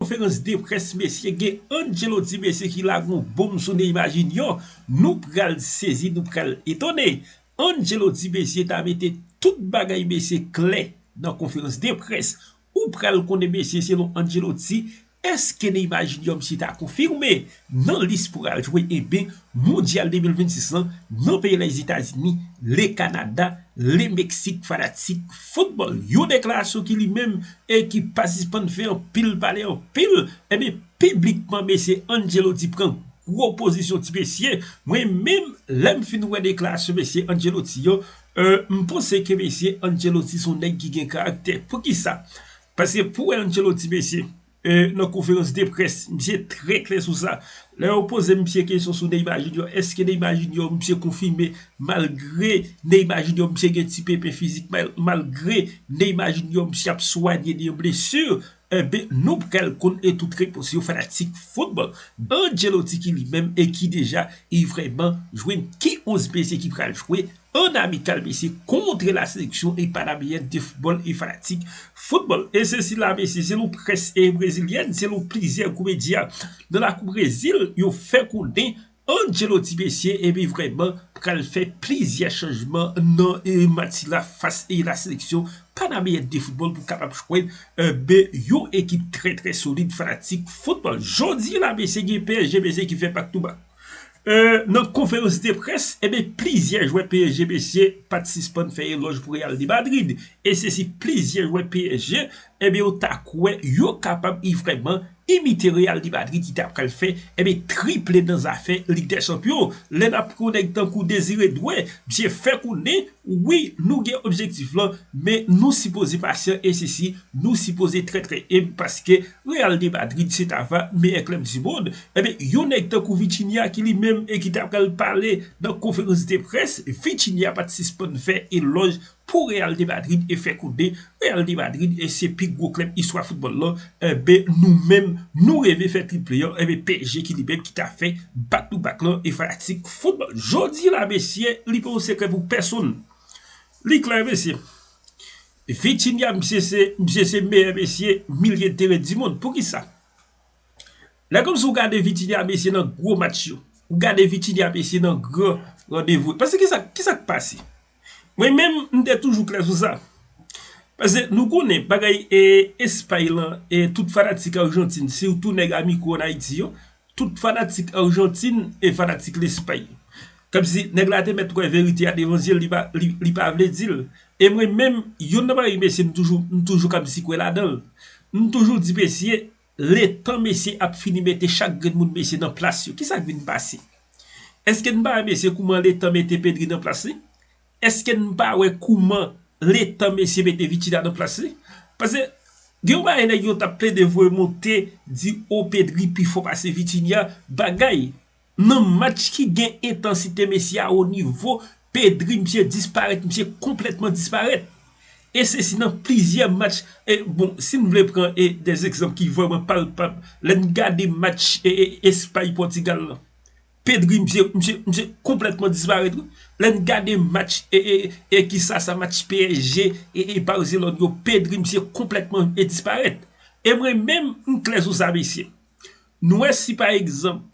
Konferans de près mesye gen Angelo di mesye ki la gon bonm sou Neymar Junior nou pral sezi nou pral etone Angelo di mesye ta mete tout bagay mesye klè nan konferans de près ou pral konnen mesye selon Angelo di eske Neymar Junior mesye ta konfime Nan lis pou al jwe eben mondyal 2026 lan nan peyi Lèzetazini, Le Kanada, Le Meksik fanatik foutbòl yo deklarasyon ki li menm e ki pa sispann fè anpil pale anpil eben piblikman mesye Ancelotti pran gwo pozisyon ti mesye mwen menm lè m fin wè deklarasyon mesye Ancelotti yo m panse ke mesye Ancelotti son nèg ki gen karaktè poukisa paske pou wè Ancelotti mesye. nan konferans de près misye trè klè sou sa lè yo poze misye kesyon sou Neymar Junior eske Neymar Junior misye konfime malgre Neymar Junior misye gen ti pepe fizik malgre Neymar Junior misye ap swanye de yon blesu enben nou pral konn tout repons yo fanatik football Ancelotti ki li menm e ki deja e vrèman jwenn ki 11 mesye ki pral jwe An amikal Messi kontre la seleksyon e panameyen de foutbòl e fanatik foutbòl e se sila mesye selon près e brezilyèn selon plizyè gwo medya nan lakou Brezil yo fè konnen Ancelotti mesye epi vrèman pral fè plizyè chanjman nan match sila fas e la seleksyon panameyen de foutbòl pou kapab jwenn be yon ekip trè trè solid fanatik foutbòl jodi la mesye gen psg mesye ki fè bak tou bak. Nan konferans de près, enben plizyè jwè psg mesye pat sispann fè elòj pou Real de Madrid e se si plizyè jwè psg enben yo ta kwè yo kapab ivreman imite Real de Madrid ki ta pral fè enben triple nan zafè Lig dè Chanpyon. Lè nap pran yon nèg tankou Désiré Doué, misye fè konnen. Wi nou gen objektif lan men nou sipoze pasyan e sisi nou sipoze trè trè enb paske Real de Madrid se ta va meyè klèb di mond enben yon nèg tankou Vitinha ki li menm e ki ta pral pale nan konferans de près Vitinha pat sispann fè elòj pou Real de Madrid e fè konnen Real de Madrid se pi gwo klèb istwa foutbòl lan enbe nou menm nou reve fè triple an enbe psg ki li menm ki ta fè back to back lan e fanatik foutbòl jodi la mesye li pa yon sekrè pou pèsonn li klè mesye Vitinha misye se misye se meyè mesye milye teren di mond poukisa lè kòmsi ou gade Vitinha mesye nan gwo match yo ou gade Vitinha mesye nan gran randevou paske kisa kisa k pase. Mwen menm m te toujou klè sou sa. Pase nou konnen bagay espay lan e tout fanatik arjantin sitou nèg amiko an ayiti yo tout fanatik arjantin e fanatik lespay. Kòmsi nèg la te mèt wè verite a devan zye l li pa vle di l. E mwen menm yonn nan bagay mesye m toujou m toujou kòmsi kwè ladan l. M toujou di mesye Letan mesye ap fini mete chak grenn moun mesye nan plas yo, kisa k vin pase? Eske n pa wè mesye kouman letan mete Pedri nan plas li? Eske n pa wè kouman letan mesye mete Vitinha nan plas li? Pase gen yon bagay nèg yo t ap plede voye monte di o Pedri pi fò pase Vitinha, bagay Nan match ki gen entansite Messi a wo nivo, Pedri misye disparèt, misye konplètman disparèt. E se si nan plizyè match, e bon si n vle pran e de egzanp ki vrèman palpab, lè n gade match e Espay Pòtigal lan, Pedri misye, misye, misye konplètman disparèt wi. Lè n gade match e e e ki sa sa match PSG e e Barcelone yo, Pedri misye konplètman e disparèt. E mwen menm m klè sou sa mesye, Nou wè si pa egzanp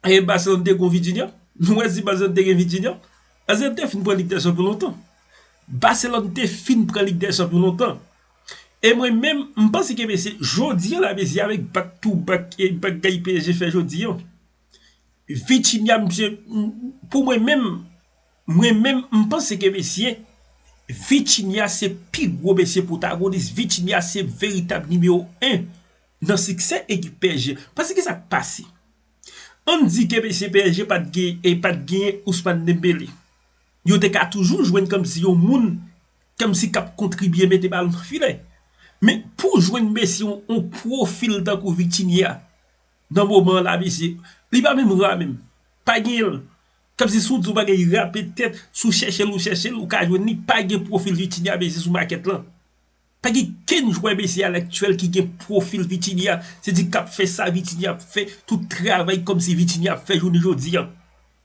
e Barcelone te gon Vitinha, nou wè si Barcelone te gen Vitinha, Barcelone te fin pran Lig dè Chanpyon lontan. Barcelone te fin pran Lig dè Chanpyon lontan. E mwen menm, m panse ke mesye, jodi an la mesye avèk back to back e bagay psg fè jodi an, Vitinha misye, pou mwen menm, mwen menm m panse ke mesye, Vitinha se pi gwo mesye pwotagonis, Vitinha se veritab nimewo 1 nan siksè ekip psg pase kisa k pase ann di ke mesye psg pa t gen e pa t genyen Ousmane Dembélé yo te ka toujou jwenn kòmsi yon moun kòmsi k ap kontribye mete balon nan filè men pou w jwenn mesye yon pwofil tankou Vitinha nan moman an la mesye li pa menm ra menm pa genyen l kòmsi si w di yon bagay rape tèt si w chèche l ou chèche l ou ka jwenn li pa gen pwofil Vitinha mesye sou makèt lan Pa gen kenn jwè BC alaktyèl ki gen pwofil Vitinha, se di k ap fè sa Vitinha ap fè, tout travay kòm si Vitinha ap fè jounen jodi an.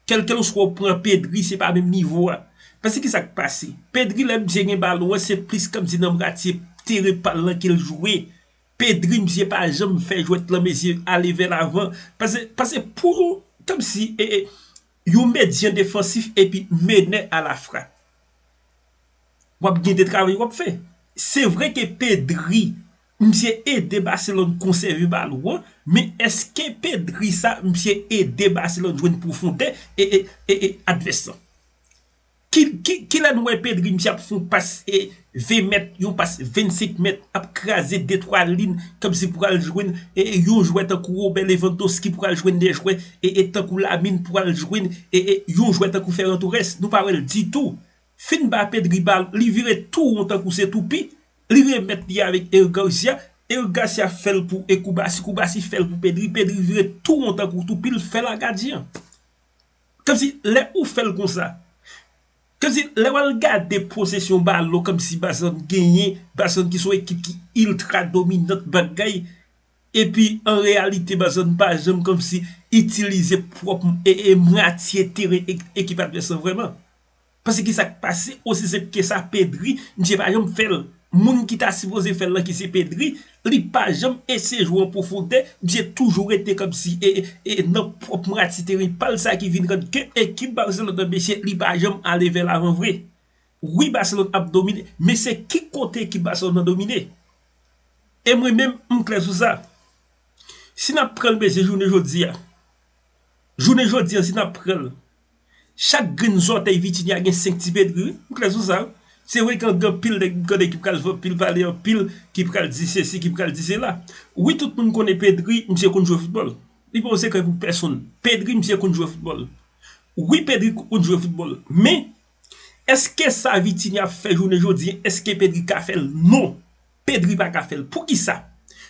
Kèlkèlswa ou pran Pedri se pa menm nivo a. Pase ki sa k pase? Pedri lè misye gen balon an se plis kòm si nan mwatye teren pa l lan ke l jwe. Pedri misye pa janm fè jwèt lan mesye ale vè lavan. Pase pase pou yon kòm si yon medyen defansif epi menè alafrap. wap gen de travay wap fè. Se vre ke Pedri misye ede Barcelone konsève balon an, men eske Pedri sa misye ede Barcelone jwenn pwofondè ee advès lan? Kilè nou wè Pedri misye ap fon pas 20 mèt, yon pas 25 mèt ap kraze de twa lin komsi pou al jwenn yon jwè tankou Robert Lewandowski pou al jwenn de jwè tankou Lamine pou al jwenn yon jwè tankou Ferran Torres, nou pa wèl ditou. Fin bape driba li vire tou won tankou se toupi, li remèt li avèk Eric Garcia, Eric Garcia fèl pou Ecoubassy, Coubassy fèl pou Pedri, Pedri vire tou won tankou toupi l fèl a gadyen. Kòmsi lè ou fèl konsa, kòmsi lè wal gade posesyon balon kòmsi Barcelone genyen, Barcelone ki se yon ekip ki iltra dominant bagay epi an reyalite Barcelone pa janm kòmsi itilize pwòp mwatye teren ekip advès lan vrèman. Pase ki sak pase osi senp ke sa Pedri misye pa janm fèl moun ki ta sipoze fèl lan ki se Pedri li pa janm eseye jwe an pwofondè misye toujou rete kòmsi e nan pwòp mati teren pal sa ki vin rann ke ekip Barcelone lan mesye li pa janm ale vè lavan vre wi Barcelone ap domine men se ki kote ekip Barcelone lan domine e mwen menm m klè sou sa si nap pranl mesye jounen jodi a jounen jodi a si nap pranl. Chak grenn zòtèy Vitinia gen 5 ti petri wi, ou klè sou sa wi. Se vre gen anpil nèg m konnen ki pral fè anpil pale, anpil ki pral di sesi, ki pral di sela. Wi tout moun konnen Pedri, misye konn jwe foutbòl. Li pa yon sekrè pou pèsonn. Pedri misye konn jwe foutbòl. Wi Pedri konn jwe foutbòl. Men, èske sa Vitinia ap fè jounen jodi, èske Pedri ka fè l? Non! Pedri pa ka fèl poukisa?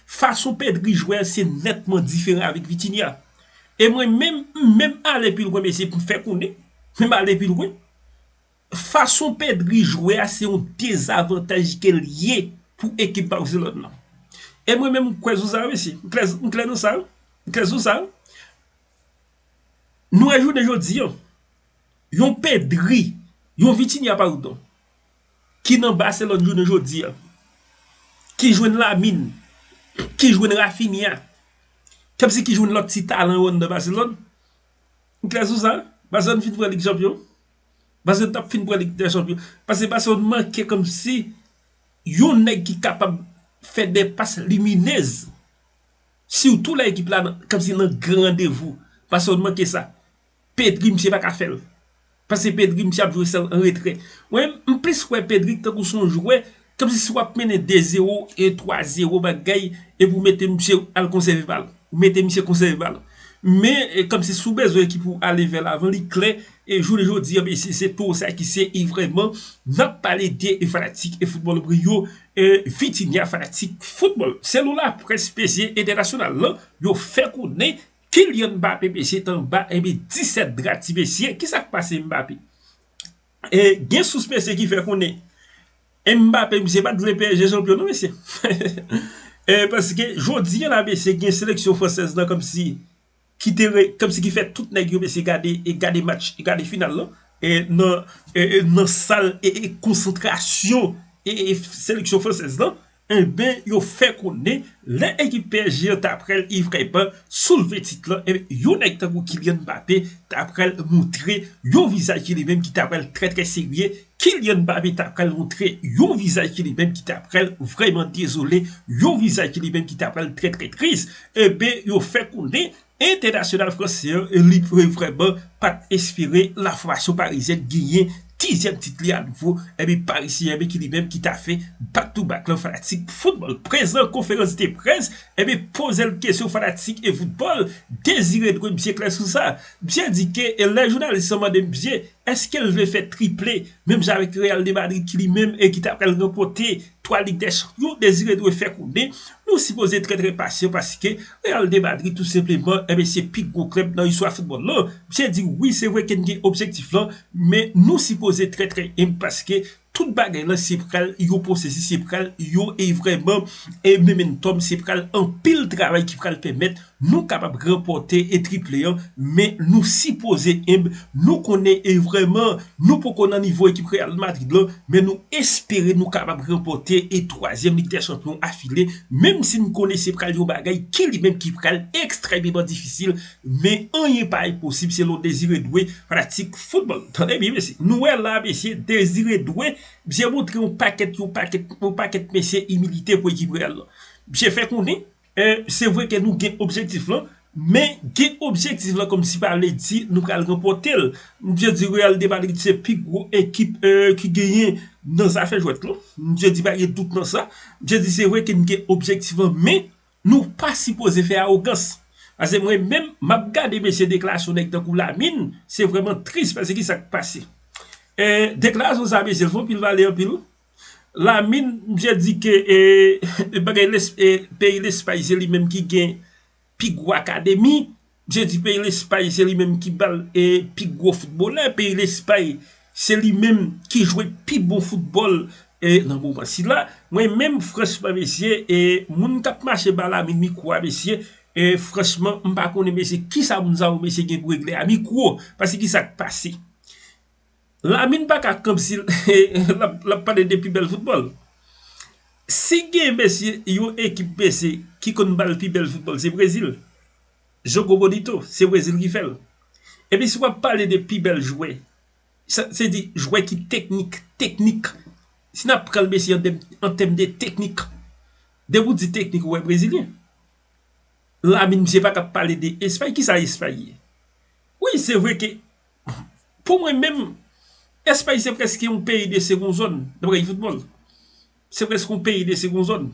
Fason Pedri jwe a se nètman diferan avèk Vitinha. E mwen menm m menm ale pi lwen mesye pou m fè konnen, m ale pi lwen, fason Pedri jwe a se yon dezavantaj ke l ye pou ekip Barcelone nan. E mwen menm m kwè sou sa mesye, m klè m klè nan sa, m klè sou sa. Nou wè jounen jodi an, yon Pedri, yon Vitinha pardon. ki nan Barcelone jounen jodi a, ki jwenn Lamine, ki jwenn Raphinha, k ap di ki jwenn lòt ti talan yo anndan Barcelone? M klè sou sa? Barcelone fin pran Lig Chanpyon? Barcelone t ap fin pran Lig dè Chanpyon? Pase Barcelone manke kòmsi yon nèg ki kapab fè de pas liminez, sitou lè ekip la nan kòmsi nan gran randevou. Barcelone manke sa. Pedri misye paka fèl Pase Pedri misye ap jwe sèl an retrè Mwen m plis wè Pedri tankou son jwè Kòmsi si wap mennen 2 zero e 3 zero bagay Epi w mete misye al konsève bal Ou mete misye konsève bal Men kòmsi si w bezwen ekip ou ale vè lavan li klè E jounen jodi an mesye se to sa ki se e vrèman Nap pale de fanatik e foutbòl vre yo E Vitinha fanatik foutbòl Selula près mesye entènasyonal lan Yo fè konnen Kylian Mbappé mesye t anba enbe 17 dra ti mesye kisak pase Mbappé e gen sous mesye ki fè konnen Mbappé misye pat vle psg chanpyon non mesye e paske jodi an la mesye gen seleksyon fransèz lan kòmsi ki te re kòmsi ki fè tout nèg yo mesye gade e gade match e gade final lan e nan e nan sal e konsantrasyon e seleksyon fransèz lan Enben yo fè konnen lè ekip psg an ta pral vrèman soulve tit lan, enben yon nèg tankou Kylian Mbappé ta pral montre yon vizaj ki li menm ki ta pral trè trè serye, Kylian Mbappé ta pral montre yon vizaj ki li menm ki ta pral vrèman dezole, yon vizaj ki li menm ki ta pral trè trè tris, enben yo fè konnen Entènasyonal fransè an li vrèman pat espere la fòmasyon parizyèn genyen dizyèm tit li a nouvo epi Paris Saint-Germain ki li menm ki ta fè back to back lan fanatik football prezan konferans de près epi pozel kesyon fanatik e football Désiré dwe misye klè sou sa misye di ke lè jounalis lan mande misye eskel vle fè triple menm jan avèk Real de Madrid ki li menm e ki ta pral ranpòte Twa Lig dè Chanpyon, Désiré dwe fè konnen nou sipoze trè trè pasyan paske Real de Madrid tou senpleman enben se pi gwo klèb nan istwa foutbòl lan. Msye di wi se vre ke n gen objektif lan men nou sipoze trè trè enb paske tout bagay lan se pral yon pwosesis se pral yon e vrèman e memenntòm se pral anpil travay ki pral pèmèt Nou kapab ranpòte e triple an men nou sipoze enb, nou konnen e vrèman nou poko nan nivo ekip Real Madrid lan men nou espere nou kapab ranpòte e twazyèm Lig dè Chanpyon afile menm si n konnen se pral yon bagay ki li menm ki pral ekstrèmeman difisil men anyen pa enposib selon Désiré Doué fanatik foutbòl tande byen mesye nou wè la mesye Désiré Doué misye montre yon pakèt yon pakèt yon pakèt mesye imilite pou ekip Real lan misye fè konnen Se vre ke nou gen objektif lan, men gen objektif lan kòmsi pa vle di nou pral ranpòte l. M bzwen di Real de Madrid se pi gwo ekip ki genyen nan zafè jwèt lan. M bzwen di pa gen dout nan sa. M bzwen di se vre ke n gen objektif lan, men nou pa sipoze fè awogans. Pase mwen menm, m ap gade mesye deklarasyon nèg tankou Lamine, se vrèman tris pase ki sa k pase. Deklarasyon sa mesye l fon pil vale anpil. Lamine misye di ke peyi Lespay se li menm ki gen pi gwo akademi, misye di peyi Lespay se li menm ki bal pi gwo foutbolè, peyi Lespay se li menm ki jwe pi bon foutbòl nan moman sila. Mwen menm franchman mesye, moun k ap mache ba Lamine mikwo a mesye, franchman m pa konnen mesye kisa moun sa yo mesye gen pou regle a mikwo, paske kisa k pase? Lamine pa ka kanp si lap pale de pi bèl foutbòl. Si gen mesye yon ekip mesye ki konn bal pi bèl foutbòl se Brezil. Jogo bonito se Brezil ki fèl. Epi si wap pale de pi bèl jwè se di jwè ki teknik, teknik. Si nap pranl mesye an tèm de teknik. Depi w di teknik ou wè Brezilyen. Lamine misye pa ka pale de Espay. Kisa Espay ye? Wi se vre ke. Pou mwen menm, Espay se preske yon peyi de segon zòn nan bagay foutbòl. Se preske yon peyi de segon zòn.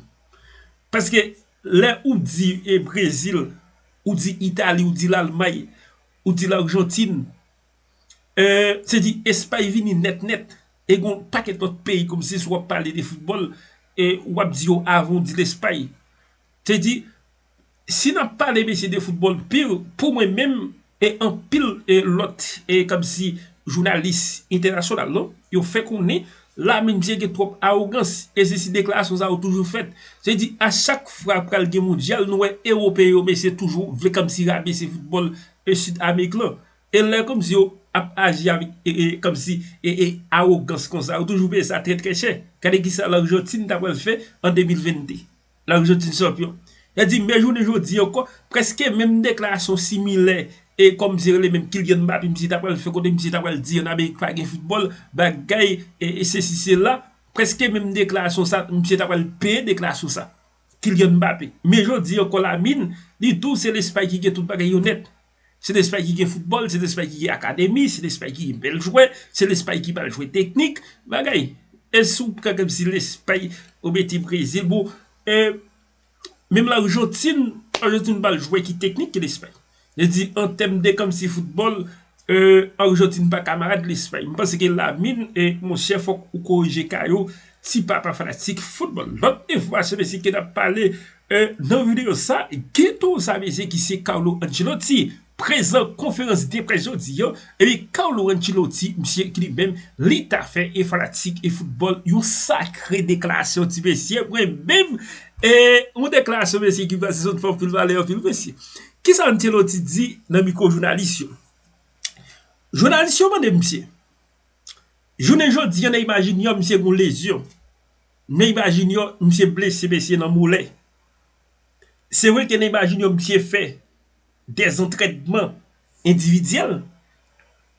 Paske lè ou di e Brezil, ou di Itali, ou di Lalmay, ou di Larjantin, e se di Espay vini nèt nèt. E gon pakèt lòt peyi kòm si sou wap pale de foutbòl, e wap di yo avan ou di Lespay. Se di, Si nap pale mesye de football pur pou mwen menm e anpil lòt e kòmsi jounalis entènasyonal non yo fè konnen Lamine Dieng gen twòp awogans e se si deklarasyon sa yo toujou fèt se di a chak fwa pral gen mondyal nou wè ewopeyen yo mesye toujou vle kòmsi rabese football e Sud Amerik lan e lè kòmsi yo ap aji avèk e kòmsi e e awogans konsa yo toujou peye sa trè trè chè gade kisa Largentine ta pral fè an 2022. Larijantine chanpyon. Sa di men jounen jodi ankò, prèske menm deklarasyon similè e kòm se rele menm Kylian Mbappé misye ta pral fè kote misye ta pral di an Amerik pa gen foutbòl, bagay e sesi sela, prèske menm deklarasyon sa misye ta pral peye deklarasyon sa. Kylian Mbappé. Men jodi ankò Lamine, li tou se Lespay ki gen tout bagay yo nèt. Se Lespay ki gen foutbòl, se Lespay ki gen akademi, se Lespay ki gen bèl jwè, se Lespay ki pral jwe teknik, bagay. E si w pran kòmsi Lespay, ou mete Brezil, bon, e, menm Lajantin, Lajantin pa l jwè ki teknik ke Lespay. Vle di, an tèm de kòmsi foutbòl, e, Lajantin pa kamarad Lespay. M panse ke Lamine, e, monchè fòk ou korije ka yo, ti papa fanatik foutbòl. Lòt enfòmasyon mesye ke n ap pale, E nan videyo sa, Geto Zamizi ki se Carlo Ancelotti prezan konferans de près jodi an, epi Carlo Ancelotti misye ki li menm li ta fè e fanatik e foutbòl yon sakre deklarasyon ti mesye mwen menm e yon deklarasyon mesye ekip la se zòn fè anpil valè anpil mesye. Kisa Ancelotti di nan mikwo jounalis yo? Jounalis yo mande misye, jounen jodi an Neymar Junior misye gen yon lezyon Neyma junior misye blese mesye nan molè se vre ke neyma junior misye fè dè zantrèdman endividyèl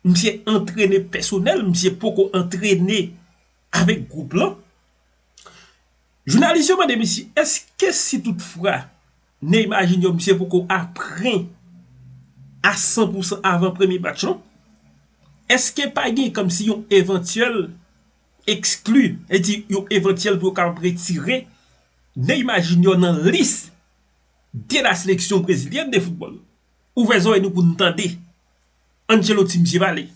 misye antrene pèsonèl misye poko antrene avèk gwoup lan jounalis yo mande misye eske si tout fra neyma junior misye poko apren a san pou san avan premye match lan eske pa gen kòmsi yon evantyèl ekskli, e di yo evantyèl pou yo kapab retire Neymar Junior nan lis de la seleksyon brezilyèn de foutbòl. Ouvè zorèy nou pou nou tande. Ancelotti misye pale.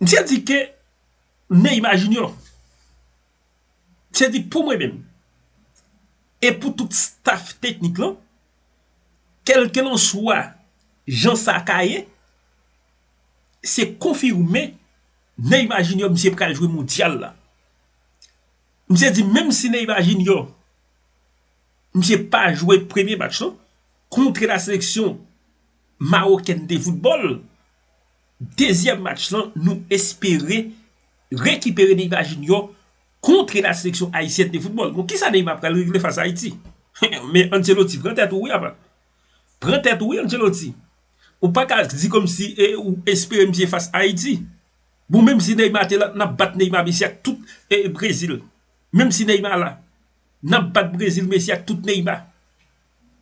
Misye di ke Neymar Junior, misye di pou mwen menm, e pou tout staff teknik lan, kelkelanswa jan sa ka ye, se konfime Neymar Junior misye pral jwe mondyal la misye di menm si Neymar Junior misye pa jwe premye match lan kontre la seleksyon mawokèn de foutbòl dezyèm match lan nou espere rekipere Neymar Junior kontre la seleksyon ayisyèn de foutbòl bon kisa Neymar pral regle fas a Ayiti men Ancelotti pran tèt ou wi apa. Pran tèt ou wi Ancelotti. Ou pa ka di komsi e ou espere misye fas Ayiti. Bon menm si Neymar te la nap bat Neymar Messi ak tout e Brezil. Menm si Neymar la. Nap bat Brezil Messi ak tout Neymar.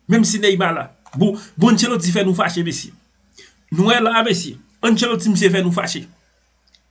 Menm si Neymar la. Bon bon Ancelotti fè nou fache mesye. Nou wè la a mesye. Ancelotti misye fè nou fache.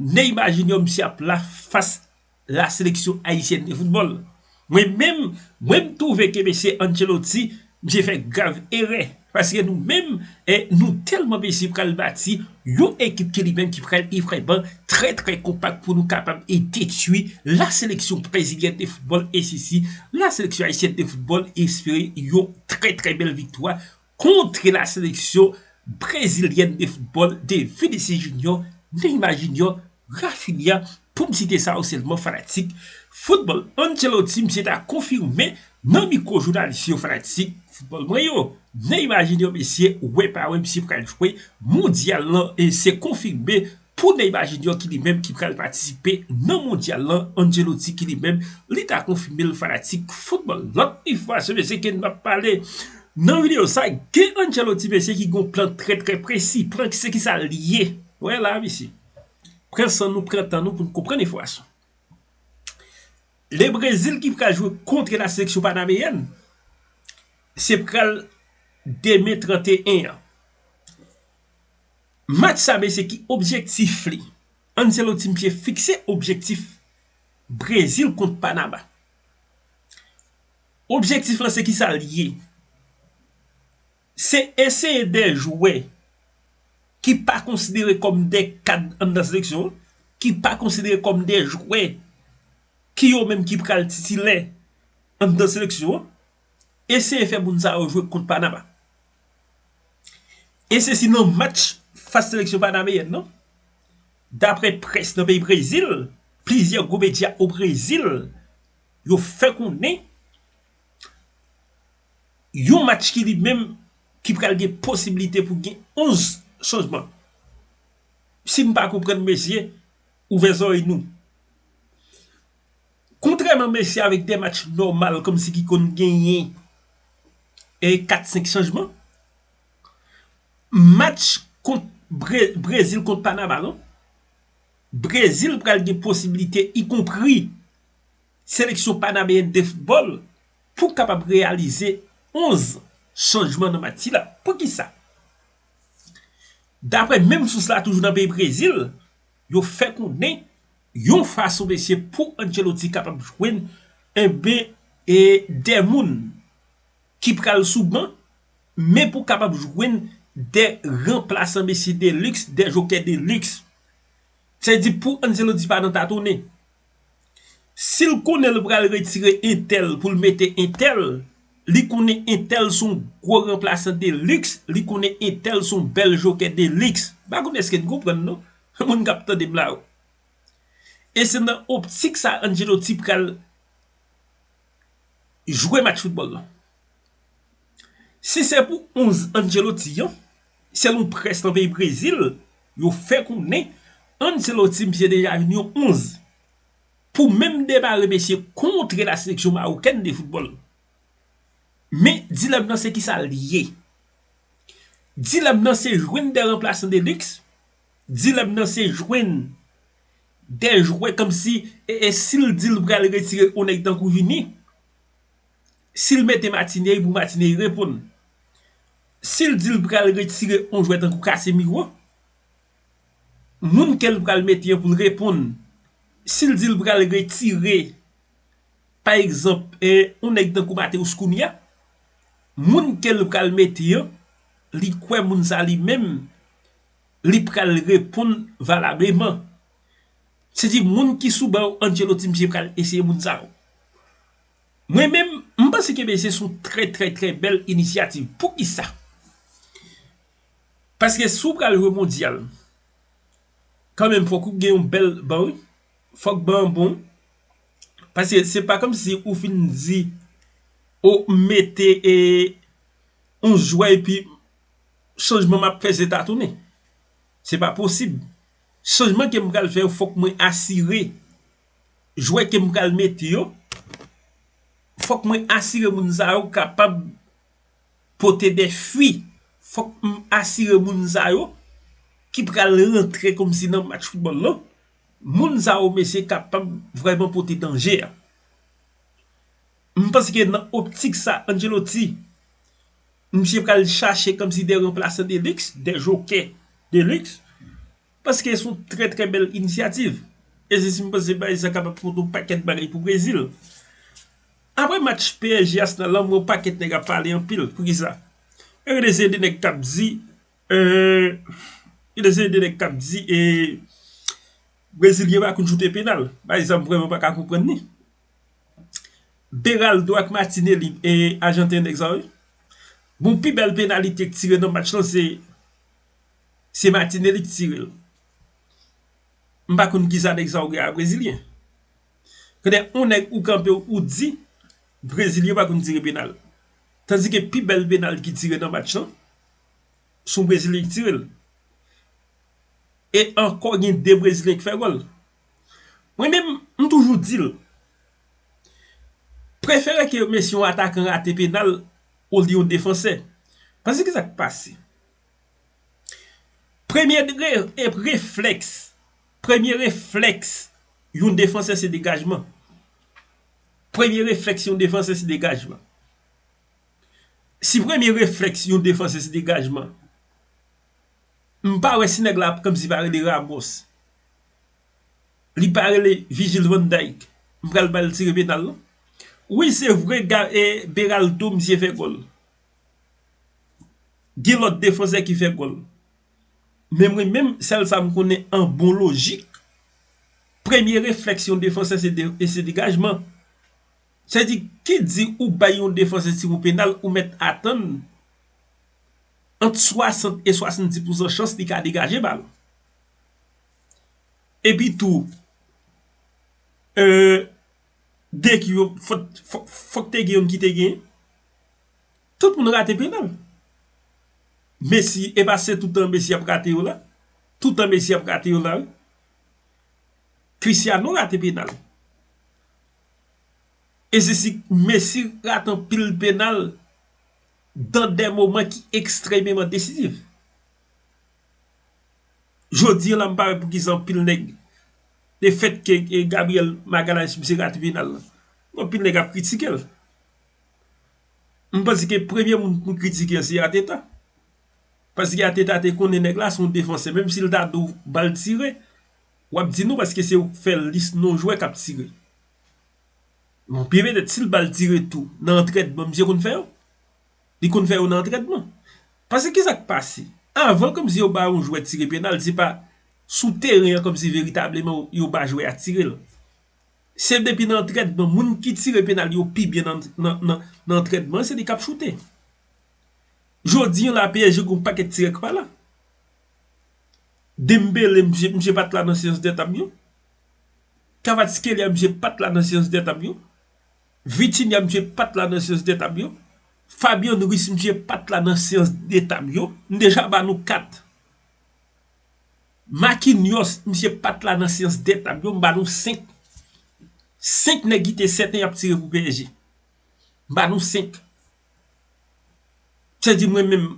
Neymar Junior misye ap la fas la seleksyon ayisyèn de foutbòl. Mwen menm, mwen m twouve ke mesye Ancelotti, misye fè grav erè. Paske nou menm, e nou tèlman mesye pral bati yon ekip ke li menm ki pral e vrèman trè trè konpak pou nou kapab e detwi la seleksyon brezilyèn de foutbòl e sisi la seleksyon ayisyèn de foutbòl espere yon trè trè bèl viktwa Kontre la seleksyon brezilyèn de foutbòl de Vinicius Junior, Neymar Junior, Raphinha pou m site sa yo sèlman fanatik foutbòl Ancelotti misye ta konfime nan mikwo jounalis yo fanatik foutbòl mwen yo Neymar Junior mesye wè pa wè misye pral jwe mondyal lan e se konfime Pou Neymar Junior ki li menm ki pral patisipe nan mondyal lan, Ancelotti ki li menm li ta konfime l fanatik foutbòl. Lòt enfòmasyon mesye ke nou ap pale nan videyo sa, gen Ancelotti mesye ki gen yon plan trè trè presi. Plan ki se ki sa l ye? Ou wè la a mesye. Pran san nou, pran tan nou pou nou konprann enfòmasyon. Le Brezil ki pral jwe kontre la seleksyon panameyèn, se pral demen 31 an. Match sa mesye ki objektif li? Ancelotti misye fikse objektif Brezil kont Panama. Objektif lan se kisa li ye? Se eseye de jwè ki pa konsidere kòm de kad anndan seleksyon an, ki pa konsidere kòm de jwè ki yo menm ki pral titilè anndan seleksyon an, eseye fè moun sa yo jwe kont Panama. E se si nan match fas seleksyon panameyèn nan. Daprè près nan peyi Brezil, plizyè gwo medya o Brezil yo fè konnen yon match ki li menm ki pral gen posiblite pou gen 11 chanjman. Si m pa konprann mesye, ouvè zorèy nou. Kontrèman Messi avèk 2 match nòmal kòmsi ki konn genyen 4, 5 chanjman, match kont Brezil kont Panama non, Brezil pral gen posibilite ikonpri seleksyon Panameyèn de foutbòl pou kapab reyalize 11 chanjman nan match sila. Poukisa? Daprè menm sous la toujou nan peyi Brezil, Yo fè konnen yon fason mesye pou Ancelotti kapab jwenn enben e 2 moun ki pral sou ban men pou kapab jwenn 2 ranplasan mesye de luxe, 2 jokè de luxe. Se di pou Ancelotti pa nan tatonnen. Sil konnen l pral retire entèl poul mete entèl, li konnen entèl son gwo ranplasan de liks, li konnen entèl son bèl jokè de liks. M pa konnen eske n konprann non, moun kap tande m la yo. E se nan optik sa Ancelotti pral jwe match foutbòl lan. Si se pou 11 Ancelotti an. Selon près nan peyi Brezil yo fè konnen Ancelotti misye deja vin yon 11 pou menm demare mesye kontre la seleksyon mawokèn de foutbòl. Men dilèm nan se kisa l ye? Dilèm nan se jwenn de ranplasan de liks, dilèm nan se jwenn de jwè kòmsi e e si l di l pral retire yon nèg tankou Vini. Si l mete Matinei pou Matinei reponn. Si l di l pral retire yon jwè tankou Casemiro, moun ke l pral mete an pou l reponn. Si l di l pral retire pa egzanp yon nèg tankou Mateus Cunha, moun ke l pral mete an, li kwè moun sa li menm li pral reponn valableman. Se di moun ki sou ban Ancelotti misye pral eseye moun sa yo. Mwen menm, m panse ke bese s on trè trè trè bèl inisyativ. Poukisa? Paske si w pral jwe mondyal, kan menm fòk ou gen yon bèl ban wi. Fòk ban an bon. Paske se pa kòm si ou fin di ou mete e yon jwè epi chanjman m ap fè se tatounen. Se pa posib. Chanjman ke m pral fè yo fòk mwen asire. jwè kem pral mete yo fòk mwen asire moun sa yo kapab pote de fwi fòk m asire moun sa yo ki pral rantre kòmsi nan match foutbòl lan moun sa yo mesye kapab vrèman pote danje m panse ke nan optik sa Ancelotti misye pral chache kòmsi de ranplasan de liks de jokè de liks. Paske son trè trè bèl inisyativ. E se si m panse bay sa kapab pote yon pakèt bagay pou Brezil. Aprè match PSG Arsenal lan m wè yon pakèt nèg ap pale anpil. Poukisa? E gade se 2 nèg k ap di gade se 2 nèg k ap di e Brezilyen pa konn choute penal. Bagay sa m vrèman pa ka konprann li. Beraldo ak Martinelli e ajanten nèg sa yo. Bon pi bèl penalite k tire nan match lan se. Se Martinelli ki tire l. M pa konn kisa nèg sa yo gen a brezilyen. Konnè yon nèg ou kanpe ou di brezilyen pa konn tire penal. Tandike pi bèl penal ki tire nan match lan, son brezilyen ki tire l. E ankò gen 2 brezilyen ki fè gòl. Mwen menm m toujou di l, prefere ke mesye yon atakan rate penal olye yon defansè. Paske kisa k pase? Premye reflèks, premye reflèks yon defansè se degajman. Premye reflèks yon defansè se degajman. Si premye reflèks yon defansè se degajman, m pa wè si nèg la ap kòm si pa rele Ramos. Li pa rele Vigil Van Dijk. M pral ba l tire penal non. Wi se vre Beraldo misye fè gòl. Gen lòt defansè ki fè gòl. Men mwen menm, sèl sa m konnen an bon lojik, premye reflèks yon defansè se degajman. Sa vle di, ki di ou bay yon defansè tiwo penal, ou mèt atann ant 60 e 70 pousan chans li ka degaje bal. Epi tou, fòk te gen yon ki te gen. Tout moun rate penal. Messi, e pa se toutan Messi ap rate yo la? Toutan Messi ap rate yo la wi. Cristiano rate penal. E se si Messi rate anpil penal dan de moman ki ekstrememan desizif. Jodi an la m pa wè poukisa anpil nèg le fèt ke Gabriel Magalhaes misye rate penal la. Anpil nèg ap kritike l. M panse ke premye moun pou kritike an se Ateta. Paske Ateta te konnen nèg la se yon defansè. Menm si l ta do ba l tire, w ap di non paske se ou k fè lis non jwè k ap tire. Bon, pi petèt si l ba l tire tou nan antrènman misye konn fè yo. Li konn fè yo nan antrènman. Paske kisa k pase? Avan kòmsi yo ba yon jwè tire penal, se pa sou teren an kòmsi veritableman yo ba jwè a tire l. Se depi nan antrèdman moun ki tire penal yo pi byen nan antrèdman se li kap choute. Jodi an la psg gon pakèt tirè ki pa la. Dembele misye pat la nan seyans dè tab yo. Kvaratskhelia misye pat la nan seyans dè tab yo. Vitinha misye pat la nan seyans dè tab yo. Fabian Ruiz misye pat la nan seyans dè tab yo. M deja ba nou 4. Makinyòs, misye pat la nan syans dè tab yo, m ba nou 5. 5 nèg ki te sèten y ap tire pou psg. M ba nou 5. Se di mwen menm,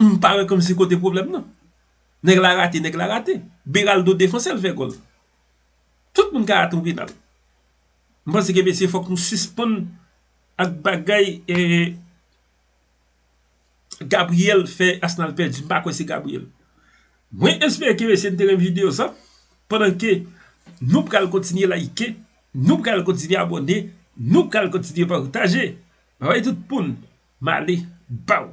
m pa wè kòmsi kote pwoblèm nan. Nèg la rate, nèg la rate. Beraldo defanse l fè gòl. Tout moun ka atann penal. M panse ke mesye fòk nou sispann ak bagay e Gabriel fè Arsenal pèdi m pa kwè se Gabriel mwen espere ke mesye n te renmen video sa pandan ke nou pral kontinye layike nou pral kontinye abòne nou pral kontinye pataje bye bye tout moun m ale baww.